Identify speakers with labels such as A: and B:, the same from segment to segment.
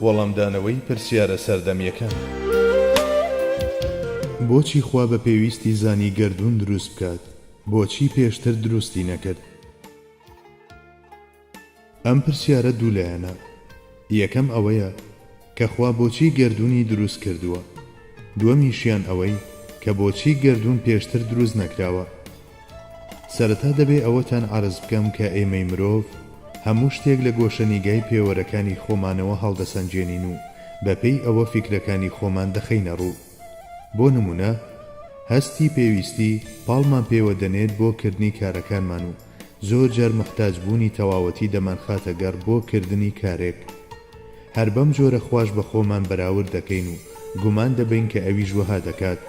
A: وەڵامدانەوەی پرسیارە سەردەمیەکان. بۆچی خوا بە پێویستی زانی گەردوون دروست بکات؟ بۆچی پێشتر دروستی نەکرد؟ ئەم پرسیارە دوو لایەنە، یەکەم ئەوەیە کە خوا بۆچی گەردوونی دروست کردووە؟ دووەمیشیان ئەوەی کە بۆچی گەردوون پێشتر دروست نەکراوە؟ سەرەتا دەبێ ئەوەتان عەرز بکەم کە ئێمەی مرۆڤ هەموو شتێک لە گۆشەنیگای پێوەرەکانی خۆمانەوە هەڵدەسەنگێنین و بەپێی ئەوە فیکرەکانی خۆمان دەخەینە ڕوو. بۆ نموونە هەستی پێویستی پاڵمان پێوە دەنێت بۆ کردنی کارەکانمان و زۆر جار موحتاج بوونی تەواوەتی دەمانخاتە گەڕ بۆ کردنی کارێک هەر بەم جۆرە خواش بە خۆمان بەراورد دەکەین و گومان دەبەین کە ئەویش وەها دەکات،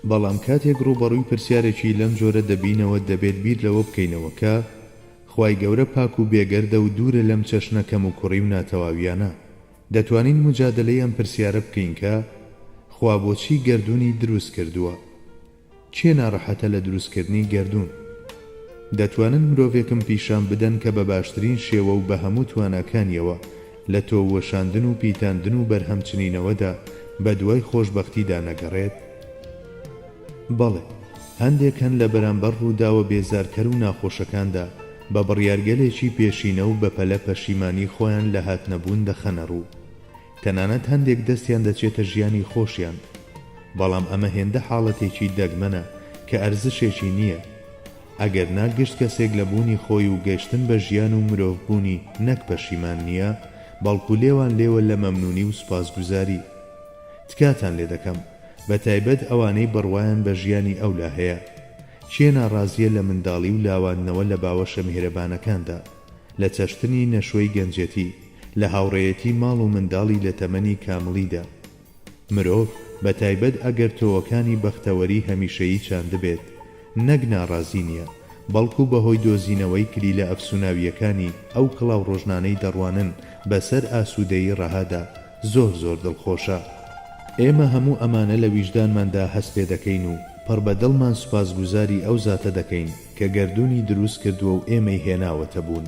A: بەڵام کاتێک ڕووبەڕووی پرسیارێکی لەم جۆرە دەبینەوە دەبێت بیر لەوە بکەینەوە کە خوای گەورە پاک و بێگەردە و دوورە لەم چەشنە کەموکوڕی و ناتەواوییانە. دەتوانین موجادەلەی ئەم پرسیارە بکەین کە، خوا بۆچی گەردوونی دروست کردووە؟ کێ ناڕەحەتە لە دروستکردنی گەردوون؟ دەتوانن مرۆڤێکم پیشان بدەن کە بە باشترین شێوە و بە هەموو تواناکانیەوە لە تۆو وەشاندن و پیتاندن و بەرهەمچنینەوەدا بە دوای خۆشبەختیدا نەگەڕێت؟ بەڵێ، هەندێک هەن لە بەرامبەر ڕووداوە بێزارکەر و ناخۆشەکاندا، بە بڕیارگەلێکی پێشینە و بەپەلە پەشیمانیی خۆیان لە هاتنەبوون دەخەنە ڕوو. تەنانەت هەندێک دەستیان دەچێتە ژیانی خۆشیان. بەڵام ئەمە هێندە حاڵەتێکی دەگمەنە کە ئەرزشێکی نییە. ئەگەر نا گشت کەسێک لە بوونی خۆی و گەشتن بە ژیان و مرۆڤبوونی نەک پەشیمان نییە، بەڵکو لێوانلێوە لە مەمنوونی و سوپاسگوزاری. تکاتان لێ دەکەم. بە تایبەت ئەوانەی بڕوایان بە ژیانی ئەولا هەیە. کێ ناڕازییە لە منداڵی و لاواندنەوە لە باوەشە میهرەبانەکاندا؟ لە چەشتنی نەشۆی گەنجێتی؟ لە هاوڕێیەتی ماڵ و منداڵی لە تەمەنی کامڵیدا؟ مرۆڤ، بە تایبەت ئەگەر تۆوەکانی بەختەوەری هەمیشەیی چاندبێت، نەک ناڕازی نییە، بەڵکو بە هۆی دۆزینەوەی کلیلە ئەفسوناوییەکانی ئەو کڵاوڕژنانەی دەڕوانن بە سەر ئاسوودەیی ڕەهادا، زۆر زۆر دڵخۆشە. ئێمە هەموو ئەمانە لە ویژدانماندا هەست پێ دەکەین و پڕ بە دڵمان سوپاسگوزاری ئەو زاتە دەکەین کە گەردوونی دروست کردووە و ئێمەی هێناوەتە بوون.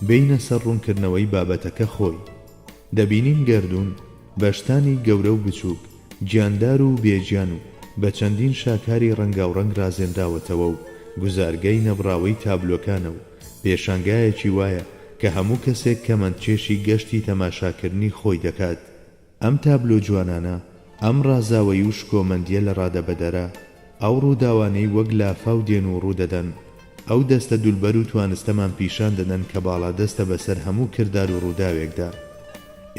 A: بێینە سەر ڕوونکردنەوەی بابەتەکە خۆی. دەبینین گەردوون بە شتانی گەورە و بچووک، گیاندار و بێ گیان و بە چەندین شاکاری ڕەنگاوڕەنگ ڕازێنراوەتەوە و گوزارگەی نەبڕاوەی تابلۆکانە و پێشانگایەکی وایە کە هەموو کەسێک کەمەندچێشی گەشتی تەماشاکردنی خۆی دەکات. ئەم تابلۆ جوانانە، ئەم ڕازاوەیی و شکۆمەندییە لەڕادەبەدەرە، ئەو ڕووداوانەی وەک لافاو دێن و ڕوودەدەن، ئەو دەستە دولبەر و توانستەمان پیشان دەدەن کە باڵادەستە بەسەر هەموو کردار و ڕووداوێکدا.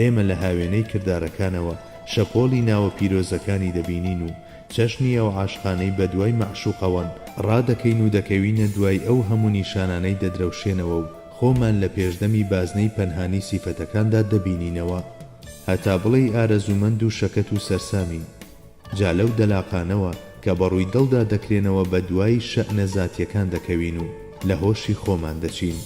A: ئێمە لە هاوێنەی کردارەکانەوە شەپۆڵی ناوە پیرۆزەکانی دەبینین و چەشنی ئەو عاشقانەی بەدوای مەعشوقەوەن، ڕادەکەین و دەکەوینە دوای ئەو هەموو نیشانانەی دەدرەوشێنەوە و خۆمان لە پێشدەمی بازنەی پەنهانی سیفەتەکاندا دەبینینەوە هەتا بڵێی ئارەزوومەند و شەکەت و سەرسامین جا لەو دەلاقانەوە کە بەڕووی دڵدا دەکرێنەوە بەدوای شەئنە زاتیەکان دەکەوین و لە هۆشی خۆمان دەچین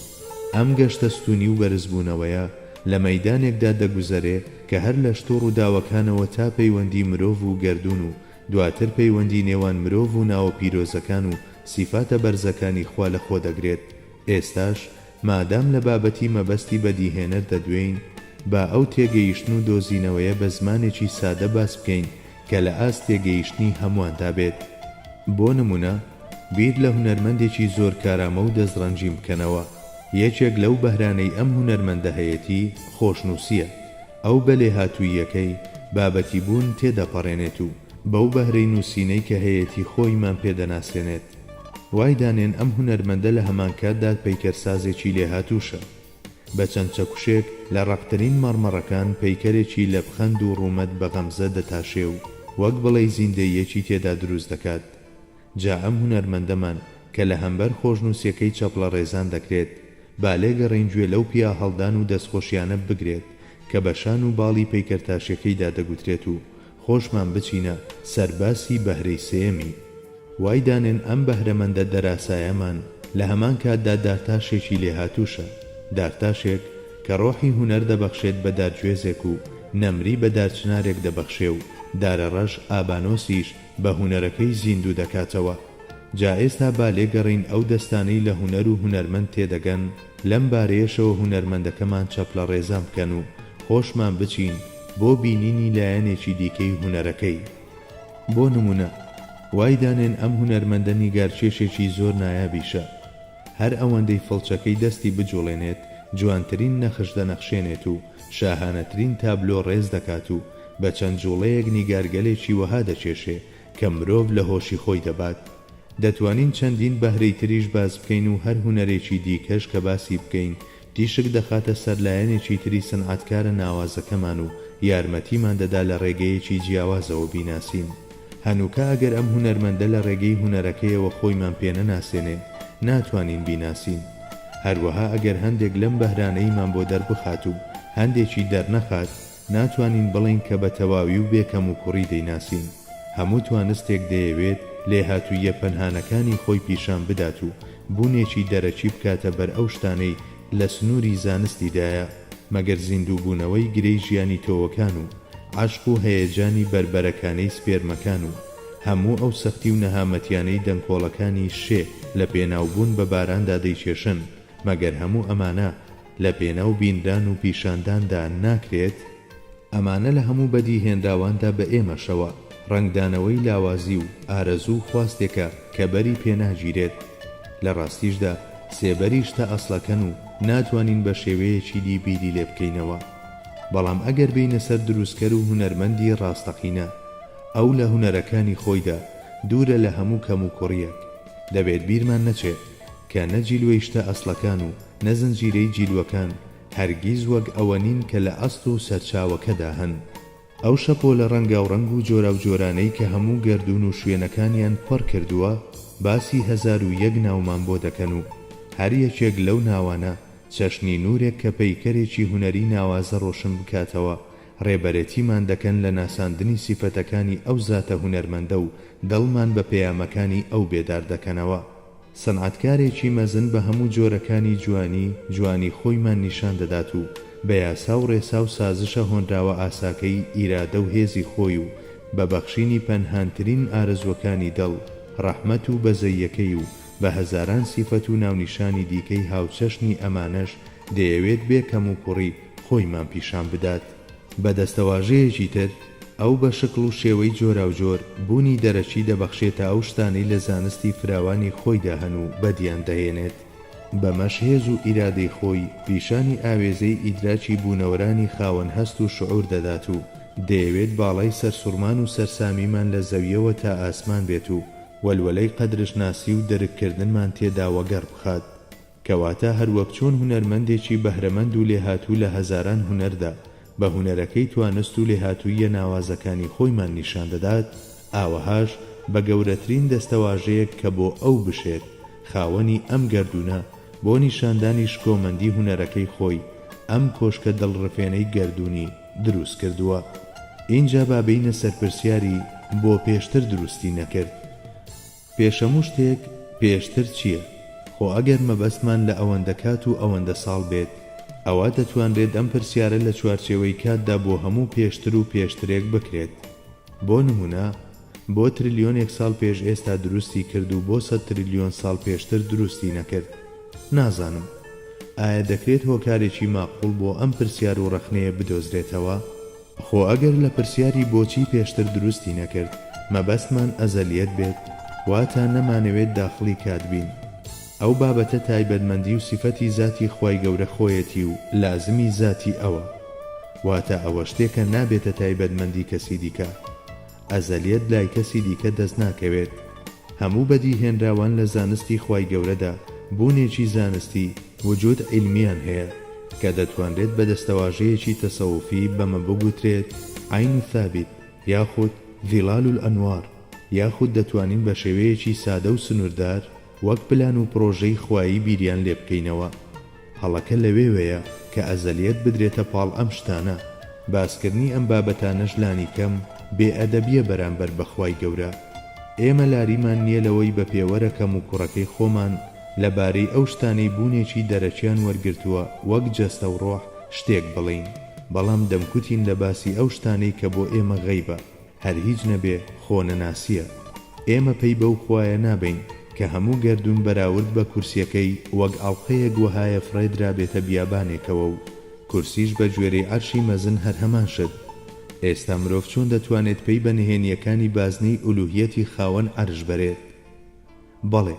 A: ئەم گەشتە ستونی و بەرزبوونەوەیە لە مەیدانێکدا دەگوزەرێ کە هەر لە شتو ڕوداوەکانەوە تا پەیوەندی مرۆڤ و گەردون و دواتر پەیوەندی نێوان مرۆڤ و ناوە پیرۆزەکان و سیفاتە بەرزەکانی خوا لە خۆ دەگرێت ئێستاش مادام لە بابەتی مەبەستی بەدیهێنەر دەدوێین با ئەو تێگەیشتن و دۆزینەوەیە بە زمانێکی سادە باس بکەین کە لە ئاست تێگەیشتنی هەموواندا بێت. بۆ نموونە، بیر لە هونەرمەندێکی زۆر کارامە و دەستڕەنجین بکەنەوە. یەکێک لەو بەهرانەی ئەم هونەرمەندە هەیەتی، خۆشنووسییە. ئەو بە لێهاتووییەکەی، بابەتیبوون، تێدەپەڕێنێت و بەو بەهرەی نووسینەی کە هەیەتی خۆیمان پێ دەناسێنێت. وای دانێن ئەم هونەرمەندە لە هەمانکاتدا پەیکەرسازێکی لێهاتووشە. بە چەند چەکوشێک لە ڕەقترین مەڕمەڕەکان پەیکەرێکی لە پخەند و ڕوومەت بە غەمزە دەتاشێ و وەک بڵێی زیندەییەکی تێدا دروست دەکات. جا ئەم هونەرمەندەمان کە لە هەمبەر خۆشنووسیەکەی چەپڵەڕێزان دەکرێت، با لێگەڕێین گوێ لەو پیاهەڵدان و دەستخۆشیانە بگرێت کە بە شان و باڵی پەیکەرتاشیەکەیدا دەگوترێت و خۆشمان بچینە سەر باسی بەهرەی سێیەمی. وای دانێن ئەم بەهرەمەندە دەراسایەمان لە هەمان کاتدا دارتاشێکی لێهاتووشە، دارتاشێک کە ڕۆحی هونەر دەبەخشێت بە دارگوێزێک و نەمری بە دارچنارێک دەبەخشێ و دارەڕەش ئابانۆسیش بە هونەرەکەی زیندوو دەکاتەوە. جا ئێستا با لێگەڕێین ئەو دەستانەی لە هونەر و هونەرمەند تێدەگەن، لەم بارەیەشەوە هونەرمەندەکەمان چەپلەڕێزان بکەن و خۆشمان بچین بۆ بینینی لایەنێکی دیکەی هونەرەکەی. بۆ نمونە وای دانێن ئەم هونەرمەندە نیگارکێشێکی زۆر نایابیشە، هەر ئەوەندەی فڵچەکەی دەستی بجوڵێنێت جوانترین نەخش دەنەخشێنێت و شاهانەترین تابلۆ ڕێز دەکات و بە چەند جوڵەیەک نیگارگەلێکی وەها دەکێشێ کە مرۆڤ لە هۆشی خۆی دەبات. دەتوانین چەندین بەهرەی تریش باس بکەین و هەر هونەرێکی دیکەش کە باسی بکەین تیشک دەخاتە سەر لایەنێکی تری سنعەتکارە ناوازەکەمان و یارمەتیمان دەدا لە ڕێگەیەکی جیاوازەوە بیناسین هەنووکە ئەگەر ئەم هونەرمەندە لە ڕێگەی هونەرەکەیەوە خۆیمان پێ نەناسێنێ ناتوانین بیناسین هەروەها ئەگەر هەندێک لەم بەهرانەیمان بۆ دەربخات و هەندێکی دەرنەخات ناتوانین بڵێین کە بە تەواوی و بێ کەموکوڕی دەیناسین. هەموو توانستێک دەیەوێت لێهاتووییە پەنهانەکانی خۆی پیشان بدات و بوونێکی دەرەکی بکاتە بەر ئەو شتانەی لە سنووری زانستیدایە، مەگەر زیندووبوونەوەی گرێی ژیانی تۆوەکان و عەشق و هەیەجانی بەربەرەکانەی سپێرمەکان و هەموو ئەو سەختی و نەهامەتیانەی دەنکۆڵەکانی شێ لە پێناوبوون بە باراندا دەیکێشن، مەگەر هەموو ئەمانە لە پێناو بینران و پیشانداندا ناکرێت، ئەمانە لە هەموو بەدیهێنراواندا بە ئێمەشەوە، ڕەنگدانەوەی لاوازی و ئارەزوو و خواستێکە کە بەری پێناگیرێت، لە ڕاستیشدا سێبەری شتە ئەسڵەکەن و ناتوانین بە شێوەیەکی دی بیری لێ بکەینەوە. بەڵام ئەگەر بێینە سەر دروستکەر و هونەرمەندی ڕاستەقینە، ئەو لە هونەرەکانی خۆیدا دوورە لە هەموو کەموکوڕییەک، دەبێت بیرمان نەچێت کە نە جیلوەی شتە ئەسڵەکان و نە زنجیرەی جیلوەکان هەرگیز وەک ئەوە نین کە لە ئەسڵ و سەرچاوەکەدا هەن. ئەو شەپۆلە ڕەنگاوڕەنگ و جۆراوجۆرانەی کە هەموو گەردوون و شوێنەکانیان پڕ کردووە، باسی هەزار و یەک ناومان بۆ دەکەن و هەر یەکێک لەو ناوانە چەشنی نوورێک کە پەیکەرێکی هونەری ناوازە ڕۆشن بکاتەوە، ڕێبەرێتیمان دەکەن لە ناساندنی سیفەتەکانی ئەو زاتە هونەرمەندە و دڵمان بە پەیامەکانی ئەو بێدار دەکەنەوە. سەنعەتکارێکی مەزن بە هەموو جۆرەکانی جوانی، جوانی خۆیمان نیشان دەدات و بە یاسا و ڕێسا و سازشە هۆنراوە ئاساکەی ئیرادە و هێزی خۆی و بە بەخشینی پەنهانترین ئارەزووەکانی دڵ، ڕەحمەت و بەزەییەکەی و بە هەزاران سیفەت و ناونیشانی دیکەی هاوچەشنی ئەمانەش دەیەوێت بێ کەموکوڕی خۆیمان پیشان بدات. بە دەستەواژەیەکی تر، ئەو بە شکڵ و شێوەی جۆراوجۆر، بوونی دەرەکی دەبەخشێتە ئەو شتانەی لە زانستی فراوانی خۆیدا هەن و بەدییان دەهێنێت. بەمەش هێز و ئیرادەی خۆی، پیشانی ئاوێزەی ئیدراکی بوونەوەرانی خاوەن هەست و شعور دەدات و دەیەوێت باڵای سەرسوڕمان و سەرسامیمان لە زەوییەوە تا ئاسمان بێت و وەلوەلەی قەدرشناسی و درککردنمان تێدا وەگەڕ بخات. کەواتە هەروەک چۆن هونەرمەندێکی بەهرەمەند و لێهاتوو لە هەزاران هونەردا بە هونەرەکەی توانست و لێهاتووییە ناوازەکانی خۆیمان نیشان دەدات، ئاوەهاش بە گەورەترین دەستەواژەیەک کە بۆ ئەو بشێت خاوەنی ئەم گەردوونە، بۆ نیشاندانی شکۆمەندی هونەرەکەی خۆی ئەم کۆشکە دڵڕفێنەی گەردوونی دروست کردووە. ئینجا با بێینە سەر پرسیاری بۆ پێشتر دروستی نەکرد؟ پێشەموو شتێک پێشتر چییە؟ خۆ ئەگەر مەبەستمان لە ئەوەندە کات و ئەوەندە ساڵ بێت، ئەوا دەتوانرێت ئەم پرسیارە لە چوارچێوەی کاتدا بۆ هەموو پێشتر و پێشترێک بکرێت. بۆ نموونە، بۆ ترلیۆنێک ساڵ پێش ئێستا دروستی کرد و بۆ سەد ترلیۆن ساڵ پێشتر دروستی نەکرد؟ نازانم. ئایا دەکرێت هۆکارێکی ماقووڵ بۆ ئەم پرسیار و ڕەخنەیە بدۆزرێتەوە؟ خۆ ئەگەر لە پرسیاری بۆچی پێشتر دروستی نەکرد مەبەستمان ئەزەلیەت بێت واتا نەمانەوێت داخڵی کات بین ئەو بابەتە تایبەتمەندی و سیفەتی زاتی خوای گەورە خۆیەتی و لازمی زاتی ئەوە واتا ئەوە شتێکە نابێتە تایبەتمەندی کەسی دیکە ئەزەلیەت لای کەسی دیکە دەست ناکەوێت. هەموو بەدیهێنراوان لە زانستی خوای گەورەدا بوونێکی زانستی، وجود علمیان هەیە، کە دەتوانرێت بە دەستەواژەیەکی تەسەوفی بەمە بگوترێت عین ثابت یاخود ظلال الانوار، یاخود دەتوانین بە شێوەیەکی سادە و سنووردار وەک پلان و پڕۆژەی خوایی بیریان لێبکەینەوە. هەڵەکە لەوێوەیە کە ئەزەلیەت بدرێتە پاڵ ئەم شتانە، باسکردنی ئەم بابەتانەش لانیکەم بێ ئەدەبیە بەرامبەر بە خوای گەورە. ئێمە لاریمان نیە لەوەی بە پێوەرە کەم و کوڕەکەی خۆمان لە بارەی ئەو شتانەی بوونێکی دەرەکیان وەرگرتووە وەک جەستە و ڕۆح شتێک بڵێین، بەڵام دەمکوتین لە باسی ئەو شتانەی کە بۆ ئێمە غەیبە. هەر هیچ نەبێ خۆ نەناسیە. ئێمە پەی بەو خوایە نابەین کە هەموو گەردوون بەراورد بە کورسیەکەی وەک ئەڵقەیەک وەهایە فڕێدرابێتە بیابانێکەوە و کورسیش بە گوێرەی عەرشی مەزن هەر هەمان شت ئێستا مرۆڤ چۆن دەتوانێت پەی بە نهێنیەکانی بازنەی ئولوهیەتی خاوەن عەرش بەرێت؟ بەڵێ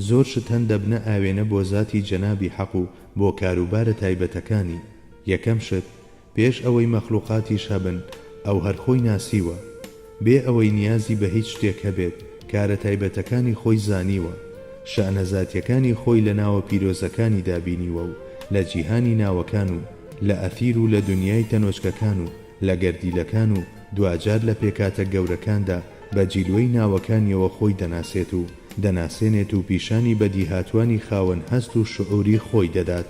A: زۆر شت هەن دەبنە ئاوێنە بۆ زاتی جەنابی حەق و بۆ کاروبارە تایبەتەکانی یەکەم شت پێش ئەوەی مەخلوقاتیش هەبن ئەو هەر خۆی ناسیوە، بێ ئەوەی نیازی بە هیچ شتێک هەبێت، کارە تایبەتەکانی خۆی زانیوە، شەئنە زاتیەکانی خۆی لە ناوە پیرۆزەکانیدا بینیوە و لە جیهانی ناوەکان و لە ئەثیر و لە دنیای تەنۆچکەکان و لە گەردیلەکان و دواجار لە پێکاتە گەورەکاندا بە جیلوەی ناوەکانیەوە خۆی دەناسێت و دەناسێنێت و پیشانی بەدیهاتوانی خاوەن هەست و شعوری خۆی دەدات.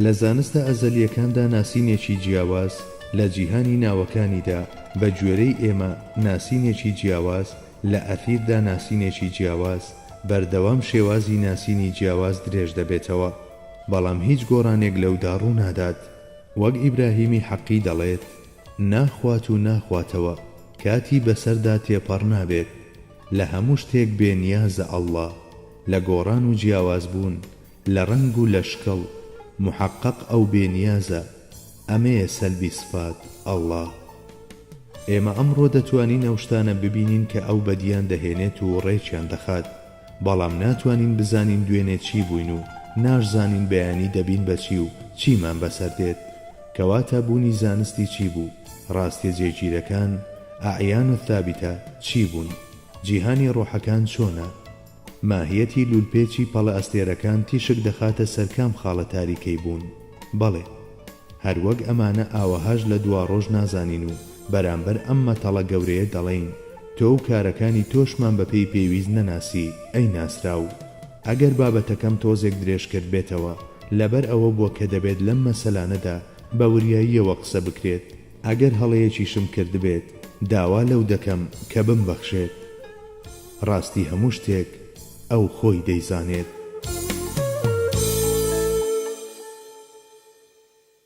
A: لە زانستە ئەزەلییەکاندا ناسینێکی جیاواز لە جیهانی ناوەکانیدا، بە گوێرەی ئێمە ناسینێکی جیاواز لە ئەثیردا ناسینێکی جیاواز، بەردەوام شێوازی ناسینی جیاواز درێژ دەبێتەوە، بەڵام هیچ گۆڕانێک لەودا ڕوو نادات. وەک ئیبراهیمی حەقی دەڵێت، ناخوات و ناخواتەوە، کاتی بەسەردا تێپەڕ نابێت، لە هەموو شتێک بێ نیازە، اللە، لە گۆڕان و جیاوازبوون، لە ڕەنگ و لە شکڵ محقق ئەو بێ نیازە ئەمەیە سەلبی سفات اللە ئێمە ئەمڕۆ دەتوانین ئەو شتانە ببینین کە ئەو بەدیان دەهێنێت و ڕێکیان دەخات بەڵام ناتوانین بزانین دوێنێ چی بووین و ناشزانین بەیانی دەبین بە چی و چیمان بەسەر دێت کەواتە بوونی زانستی چی بوو ڕاستیە جێگیرەکان، اعیان الثابتە، چی بوون؟ جیهانی ڕۆحەکان چۆنە؟ ماهیەتی لوولپێچی پەڵەئەستێرەکان تیشک دەخاتە سەر کام خاڵە تاریکەی بوون؟ بەڵێ. هەر وەک ئەمانە ئاوەهاش لە دواڕۆژ نازانین و بەرامبەر ئەم مەتەڵە گەورەیە دەڵێین، تۆ و کارەکانی تۆشمان بە پێی پێویست نەناسی، ئەی ناسراو. ئەگەر بابەتەکەم تۆزێک درێژ کردبێتەوە، لەبەر ئەوە بووە کە دەبێت لەم مەسەلانەدا بە وریاییەوە قسە بکرێت، ئەگەر هەڵەیەکیشم کردبێت داوا لەو دەکەم کە بمبەخشێت. ڕاستی هەموو شتێک ئەو خۆی دەیزانێت.